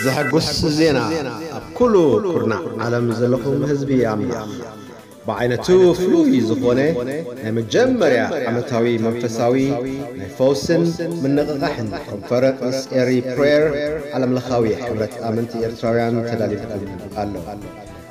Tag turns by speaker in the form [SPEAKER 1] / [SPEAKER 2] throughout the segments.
[SPEAKER 1] ዘሐጉስ ዜና ኣብ ኩሉ ኩርናዕ ዓለም ዘለኹም ህዝቢ ኣምላኽ ብዓይነቱ ፍሉይ ዝኾነ ናይ መጀመርያ ዓመታዊ መንፈሳዊ ናይ ፈውስን ምንቕቓሕን ኮንፈረንስ ኤሪ ፕሬየር ዓለምለኻዊ ሕብረት ኣመንቲ ኤርትራውያን ተዳልዩልኩም ኣሎ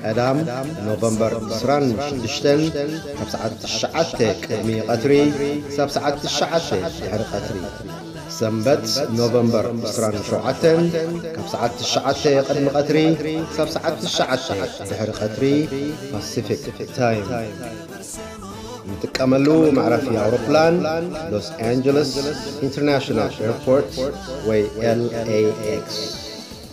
[SPEAKER 1] ቀዳም ኖቨምበር ዕስራን ሽዱሽተን ካብ ሰዓት ትሽዓተ ቅድሚ ቐትሪ ክሳብ ሰዓት ትሽዓተ ድሕሪ ቐትሪ። ሰንበት ኖቨምበር ዕስራን ሸውዓተን ካብ ሰዓት ትሽዓተ ቅድሚ ቐትሪ ክሳብ ሰዓት ትሽዓተ ድሕሪ ቐትሪ ፓሲፊክ ታይም። ንጥቀመሉ መዕረፊ ኣውሮፕላን ሎስ ኣንጀለስ ኢንተርናሽናል ኤርፖርት ወይ LAX።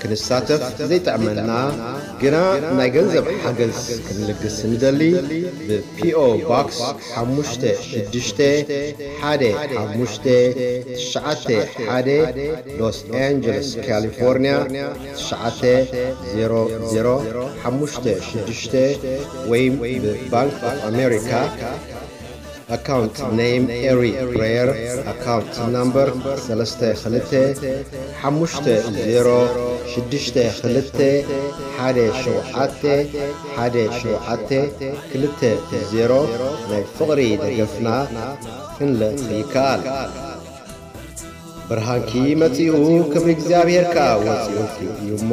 [SPEAKER 1] ክንሳተፍ ዘይጥዕመና ግና ናይ ገንዘብ ሓገዝ ክንልግስ እንደሊ ብ PO Box ሓሙሽተ ሽዱሽተ ሓደ ሓሙሽተ ትሽዓተ ሓደ Los Angeles California ትሽዓተ ዜሮ ዜሮ ሓሙሽተ ሽዱሽተ ወይም ብ Bank of America ኣካውንት ነይም ኤሪ ፕረየር ኣካውንት ናምበር ሰለስተ ክልተ ሓሙሽተ ዜሮ ሽዱሽተ ክልተ ሓደ ሸውዓተ ሓደ ሸውዓተ ክልተ ዜሮ ናይ ፍቕሪ ደገፍና ክንልእኽ ይከኣል። ብርሃንኪ መጺኡ ክብሪ እግዚኣብሔር ከኣ ወጺኡልኪ እዩ እሞ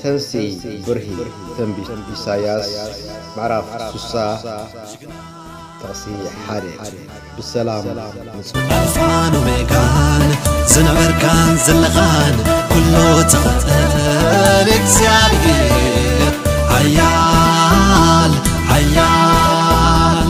[SPEAKER 1] ተንሥኢ ብርሂ ትንቢት ኢሳይያስ ምዕራፍ ስሳ ጥቕሲ ሓደ ብሰላም ንጹ
[SPEAKER 2] ኣልፋን ኦሜጋን ዝነበርካን ዘለኻን ኩሉ ትኽእል እግዚኣብሔር ሓያል ሓያል